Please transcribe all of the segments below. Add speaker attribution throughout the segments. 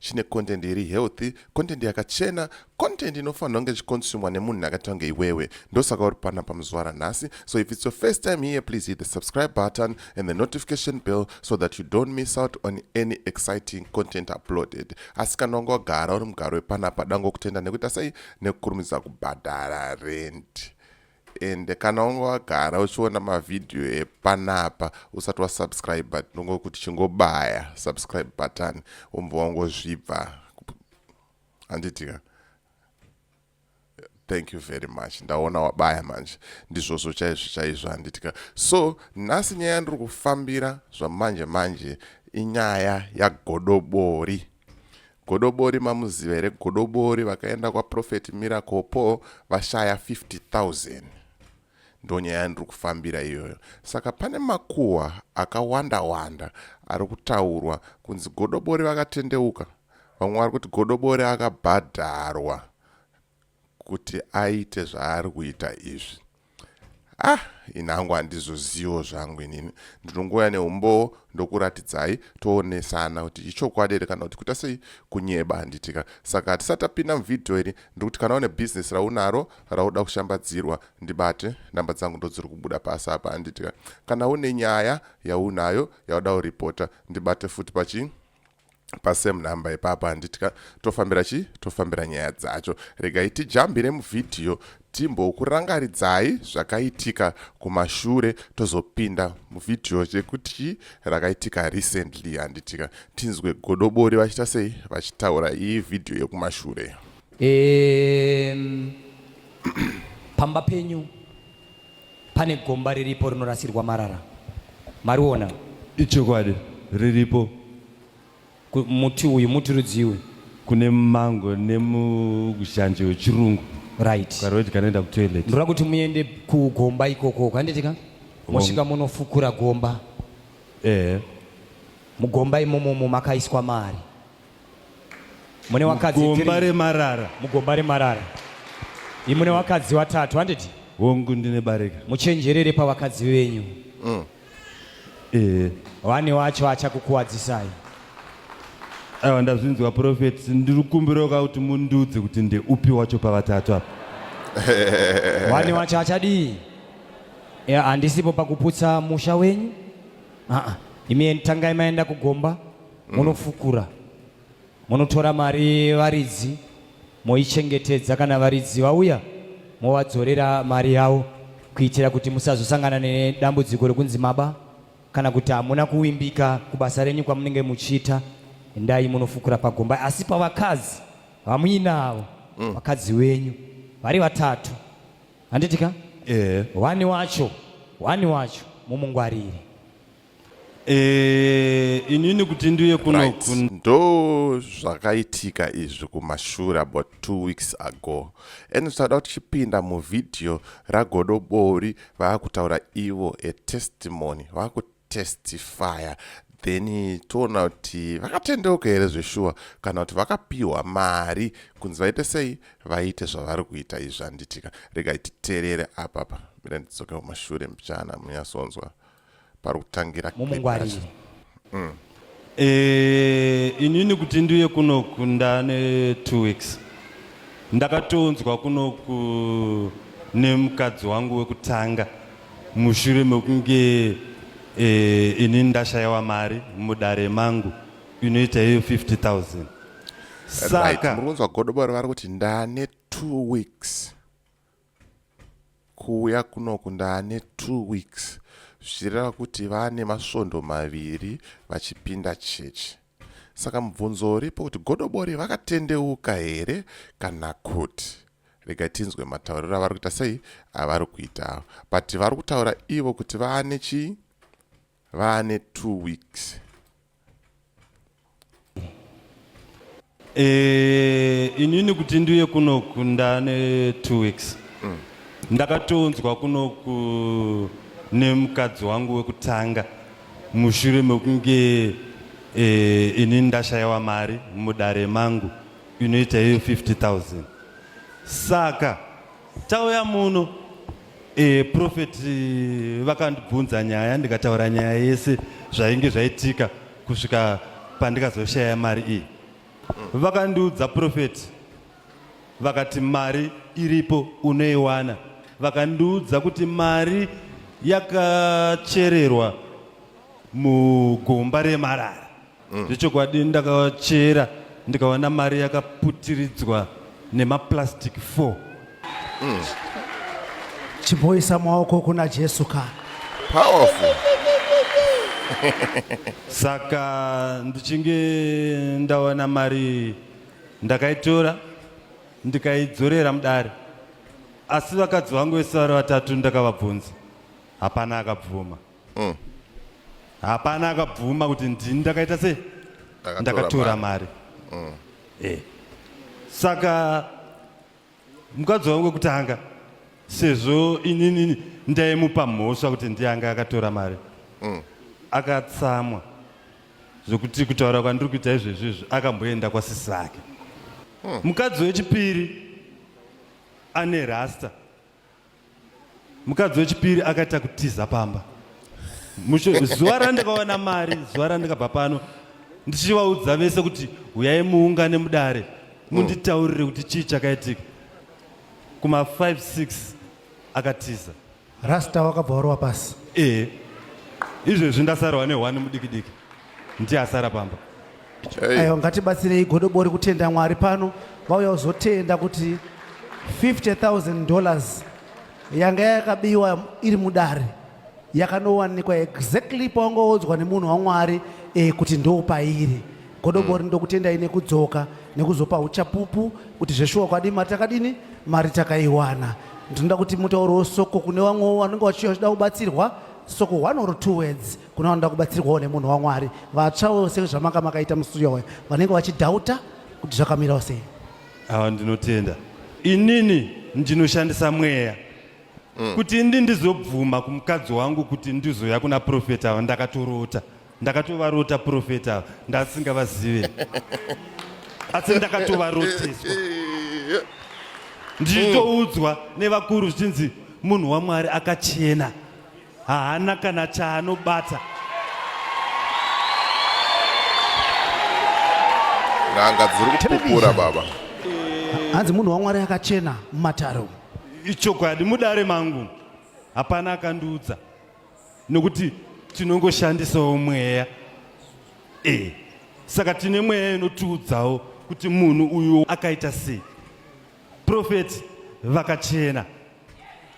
Speaker 1: chine content iri healthy content yakachena content inofanirwa kunge ichikonsumwa nemunhu akaita kunge iwewe ndosaka uri pana pamuzuva ranhasi so if it's your first time here please hit the subscribe button and the notification bell so that you don't miss out on any exciting content uploaded asi kana wanga wagara uri mugaro wepanapa dangokutenda nekuita sei nekukurumidza kubhadhara rent and kana unge wagara uchiona mavhidhiyo epanapa usati wasubscribe tinongo kuti chingobaya subscribe button womva wangozvibva handitika thank you very much ndaona wabaya manje ndizvozvo chaizvo chaizvo handitika so nhasi nyaya yandiri kufambira zvamanje manje inyaya yagodobori Godobori mamuziva here godobori vakaenda kwaprophet miracle paul vashaya 50000 ndonyaya yandiri kufambira iyoyo saka pane makuhwa akawanda wanda ari kutaurwa kunzi godobori vakatendeuka vamwe vari kuti godobori akabhadharwa kuti aite zvaari kuita izvi ah ini hangu handizozivo zvangu inini ndinongouya neumbowo ndokuratidzai toonesana kuti ichokwadi here kana kuti kuita sei kunyeba handitika saka hatisati tapinda muvhidhiyo iri ndikuti kana une bhizinesi raunaro rauda kushambadzirwa ndibate namba dzangu ndodziri kubuda pasi apa handitika kana une nyaya yaunayo yauda kuripota ndibate futi pachii pasame number ipapa handiti ka tofambira chii tofambira nyaya dzacho regai tijambire muvhidhiyo timbokurangaridzai zvakaitika kumashure tozopinda muvhidhiyo chekuti rakaitika recently handitika tinzwe godobori vachiita sei vachitaura iyi vhidhiyo yekumashure
Speaker 2: um, pamba penyu pane gomba riripo rinorasirwa marara mariona ichokwadi
Speaker 3: riripo Ku-
Speaker 2: muti uyu muti rudzii uyu kune
Speaker 3: mango nemuzhanje wechirungu right ukaroti
Speaker 2: kanoenda kutoilet
Speaker 3: ndoda kuti muende
Speaker 2: kugomba ikoko kanditika mosvika monofukura gomba ehe mugomba imomomo makaiswa mari mune wakadzi mugomba remarara
Speaker 3: mugomba remarara
Speaker 2: imune wakadzi watatu handiti hongu ndine barika
Speaker 3: muchenjerere pavakadzi
Speaker 2: venyu mm. eh. vane wacho achakukuwadzisai
Speaker 3: aiwa ndazvinzwa profeti ndiri kukumbiraoka kuti mundiudze kuti ndeupi wacho pavatatu apa
Speaker 2: wani wacho achadii handisipo pakuputsa musha wenyu aa imi tangai maenda kugomba munofukura munotora mari yevaridzi moichengetedza kana varidzi vauya movadzorera mari yavo kuitira kuti musazosangana nedambudziko rekunzi maba kana kuti hamuna kuvimbika kubasa renyu kwamunenge muchiita endai munofukura pagomba asi pavakadzi vamuinavo mm. vakadzi wenyu vari vatatu handitika yeah. wani wacho wani wacho mumungwarire Eh,
Speaker 3: inini kuti ndiuye kunoku ndo
Speaker 1: zvakaitika izvi kumashura about two weeks ago and zvaida kuti chipinda muvhidhiyo ragodobori vaakutaura ivo atestimony vakutestifya then toona kuti vakatendeuka here zveshuwa kana kuti vakapiwa mari kunzi vaite sei vaite zvavari kuita izvi zvanditika regai titerere apapa mira ndidzoke kumashure mbichana munyasonzwa pari kutangira mumungwarire
Speaker 2: mm. e,
Speaker 3: inini kuti ndiuye kunoku ndane two weeks ndakatonzwa kunoku nemukadzi wangu wekutanga mushure mekunge e, inini ndashayiwa mari mudare mangu inoita iyo 50 000 saka right. murunzwa godobori
Speaker 1: vari kuti ndane two weeks kuuya kunoku ndaane two weeks zvichireva kuti vaane masvondo maviri vachipinda chechi saka mubvunzo uripo kuti godobori vakatendeuka here kana kuti rega tinzwe matauriro avari kuita sei avari kuita avo but vari kutaura ivo kuti vaane chii vane two weeks
Speaker 3: Eh, inini kuti ndiuye kunoku ndane two weeks mm. ndakatonzwa kunoku nemukadzi wangu wekutanga mushure mekunge eh, ini ndashayiwa mari mudare mangu inoita iyo 50000 saka Tauya muno e, prophet eh, vakandibvunza nyaya ndikataura nyaya yese zvainge zvaitika kusvika pandikazoshaya mari iyi. Mm. Vakandiudza prophet vakati mari iripo unoiwana. Vakandiudza kuti mari yakachererwa mugomba remarara mm. zvechokwadi mm. ndakachera ndikaona mari yakaputiridzwa nemaplastic 4 mm.
Speaker 4: chimboisa maoko kuna jesu ka powerful
Speaker 3: saka ndichinge ndawana mari ndakaitora ndikaidzorera mudare asi vakadzi vangu vese vari vatatu ndakavabvunza hapana akabvuma mm. hapana akabvuma kuti ndini ndakaita sei ndakatora mari mm. eh. saka mukadzi wangu wekutanga sezvo inini ndaimupa mhosva kuti ndianga akatora mari mm. akatsamwa zvokuti kutaura kwandiri kuita izvezvi izvi akamboenda kwasisi vake mm. mukadzi wechipiri ane rasta mukadzi wechipiri akaita kutiza pamba zuva randakawana mari zuva randikabva pano ndichivaudza vese kuti huyai muungane mudare munditaurire kuti chii chakaitika kuma 5 6 akatiza rasta
Speaker 4: wakabva warova pasi ee
Speaker 3: izvezvi ndasarwa nehwani mudikidiki ndiye asara pamba Hey. Ayo
Speaker 4: ngatibatsirei godobori kutenda Mwari pano vauya kuzotenda kuti 50000 dollars yanga yakabiwa iri mudare yakanowanikwa exactly pawangaodzwa nemunhu waMwari eh, kuti ndoopairi godobori mm. ndokutendai nekudzoka nekuzopa uchapupu kuti zveshuwa kwadii mari takadini mari takaiwana ndinoda kuti mutauro soko kune vamwe vanenge vachida kubatsirwa soko one or two words Kuna vanoda kubatsirwawo nemunhu waMwari, vatsvawo sezvamanga makaita mustudio waya, vanenge vachidhauta kuti zvakamirawo sei. Awa
Speaker 3: ndinotenda inini ndinoshandisa mweya mm. kuti ndi ndizobvuma kumukadzi wangu kuti ndizoya kuna profeta ava ndakatorota ndakatovarota profeta ava ndasingavazive asi ndakatovaroteswa ndichitoudzwa nevakuru zvichinzi munhu wamwari akachena haana kana chaanobata
Speaker 1: n'anga dziri kupupura baba hanzi
Speaker 4: munhu wamwari akachena mumatare umu ichokwadi
Speaker 3: mudare mangu hapana akandiudza nokuti tinongoshandisawo mweya e saka tine mweya inotiudzawo kuti munhu uyu akaita sei Prophet vakachena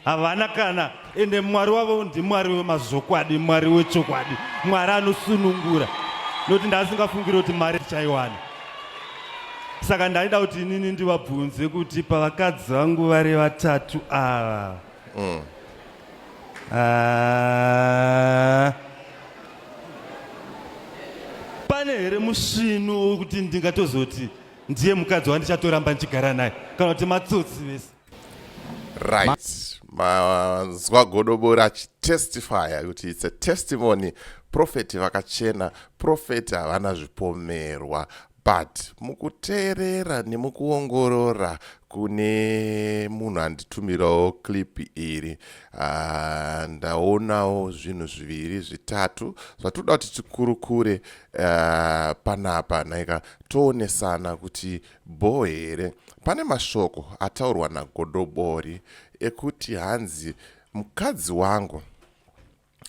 Speaker 3: havana kana ende mwari wavo ndimwari wemazokwadi mwari wechokwadi mwari anosunungura nokuti ndaasingafungire kuti mari tichaiwana saka ndaida kuti inini ndivabvunze kuti pavakadzi vangu vari vatatu ava mm. Ah. pane here musvinu wokuti ndingatozoti ndiye mukadzi wandichatoramba ndichigara naye kana kuti matsotsi vese right
Speaker 1: mazwa godobori achitestifya kuti its a testimony profeti vakachena profeti havana zvipomerwa but mukuteerera nemukuongorora kune munhu anditumirawo clip iri uh, ndaonawo zvinhu zviviri zvitatu zvatinoda kuti tikurukure uh, panapa naika toonesana kuti bhoo here pane mashoko ataurwa nagodobori ekuti hanzi mukadzi wangu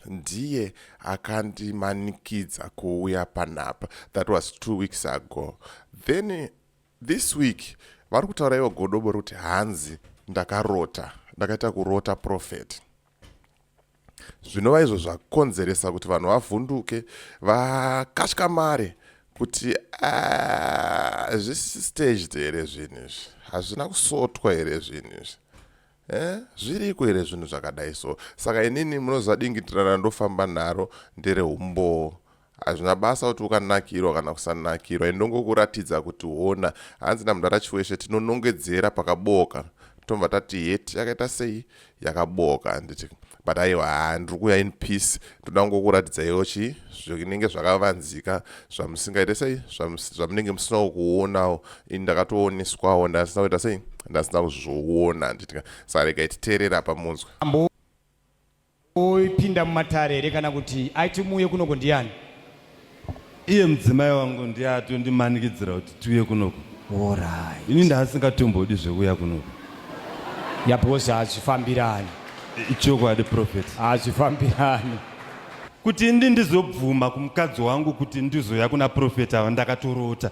Speaker 1: ndiye akandimanikidza kuuya panapa that was two weeks ago then this week vari kutaura ivo godobori kuti hanzi ndakarota ndakaita kurota profeti zvinova izvo zvakonzeresa kuti vanhu vavhunduke vakatya mari kuti ah, zvisi staged here zvinhu izvi hazvina kusotwa here zvinhu izvi eh, zviriko here zvinhu zvakadai so saka inini munoziva dingitirana ndofamba naro ndereumbowo Hazvina basa kuti ukanakirwa kana kusanakirwa indongokuratidza kuti hona hanzi namdara Chiweshe tinonongedzera pakabooka tobva tati heti yakaita sei yakabooka handiti but aiwa haa ndiri kuuya in peace ndoda kungokuratidzaiwo chii zvinenge zvakavanzika zvamusingaite sei zvamunenge musinawo kuonawo ini ndakatooneswawo ndasina kuita sei ndasina kuzviona handiti saregai titeerera pamunzwa Oipinda
Speaker 2: mumatare here kana kuti aiti muuye kunoko ndiani?
Speaker 3: Iye mudzimai wangu ndiye atondimanikidzira kuti tiuye kunoko. Alright. Ini
Speaker 2: ndaasingatombodi
Speaker 3: zvekuuya kunoko. Ya
Speaker 2: because hazvifambirani. Ichokwadi
Speaker 3: prophet. Hazvifambirani.
Speaker 2: Kuti
Speaker 3: ndi ndizobvuma kumukadzi wangu kuti ndizoya kuna prophet ava ndakatorota.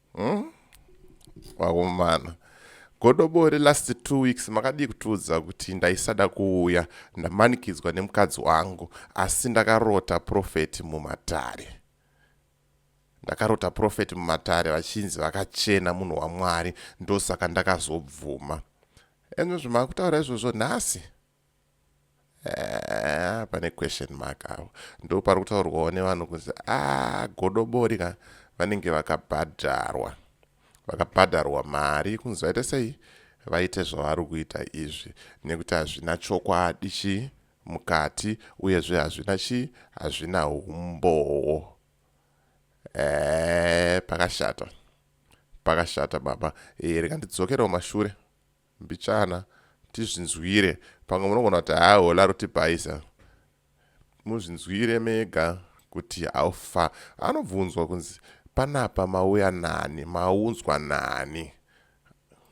Speaker 1: hmm? wakomana godobori last two weeks makadii kutiudza kuti ndaisada kuuya ndamanikidzwa nemukadzi wangu asi ndakarota profeti mumatare ndakarota profeti mumatare vachinzi vakachena munhu wamwari ndosaka ndakazobvuma enozvo makutaura izvozvo nhasi Ah, pane question mark avo ndo pari kutaurwawo nevanhu kunzi ah, godobori ka vanenge vakabhadharwa vakabhadharwa mari kunzi vaite sei vaite zvavari kuita izvi nekuti hazvina chokwadi chii mukati uyezve hazvina chii hazvina umbowo ee eh, pakashata pakashata baba ee eh, rikandidzokerewo mashure Mbichana tizvinzwire pamwe munogona kuti haa hola rotibhaisa muzvinzwire mega kuti haufa anobvunzwa kunzi panapa mauya nani maunzwa nani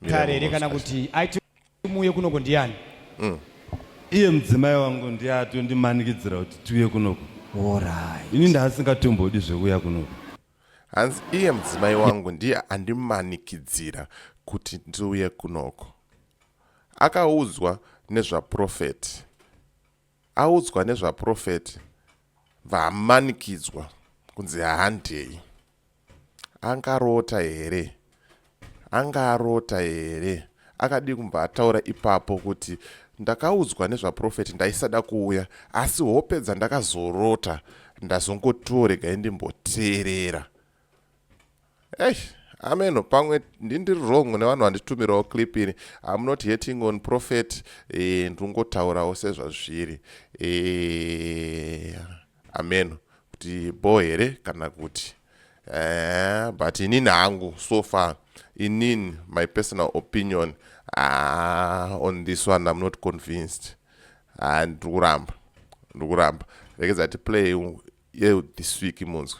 Speaker 1: kare
Speaker 2: here kana kuti aiti muuye kunoko ndiani mm.
Speaker 3: iye mudzimai wangu ndiye atondimanikidzira kuti tiuye kunoko ini
Speaker 2: ndaasingatombodi
Speaker 3: zvekuuya kunoko hanzi
Speaker 1: iye mudzimai wangu ndiye andimanikidzira kuti ndiuye kunoko akaudzwa nezvaprofeti audzwa nezvaprofeti vaamanikidzwa kunzi haandei angarota here Anga arota here? Akadii kumbva ataura ipapo kuti ndakaudzwa nezvaprofeti ndaisada kuuya asi hope dzandakazorota ndazongotiwo regai ndimboteerera. Eish, ameno pamwe ndindiri wrong nevanhu vanditumirawo clip ini im not hating on prophet e, ndingotaurawo sezvazviri e, Hameno kuti bho here kana kuti eh, but inini hangu so far inini my personal opinion ah, on this one I'm not convinced ah, ndiri kuramba ndiri kuramba rekedza tiplay ye this week munzwe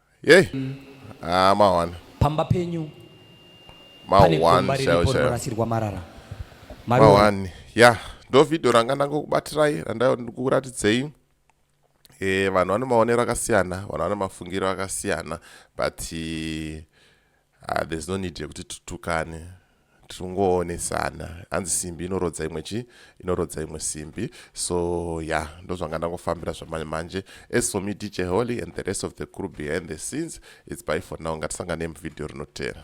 Speaker 3: Yey.
Speaker 1: Ah, mahwana. Pamba penyu
Speaker 2: pane gomba riripo rinorasirwa marara.
Speaker 1: Mahwani. Ya, yeah. ndo video ranga ndangokubatirai randaiva ndikuratidzei. Eh, vanhu vane maonero akasiyana, vanhu vane mafungiro akasiyana but Ah, there's no need yekuti tutukane tingoonesana hanzi simbi inorodza imwe chi inorodza imwe simbi so ya yeah, ndozvanga ndangofambira zvamanje manje as for me dj holy and the rest of the crew behind the scenes its by for now ngatisangane muvideo rinotera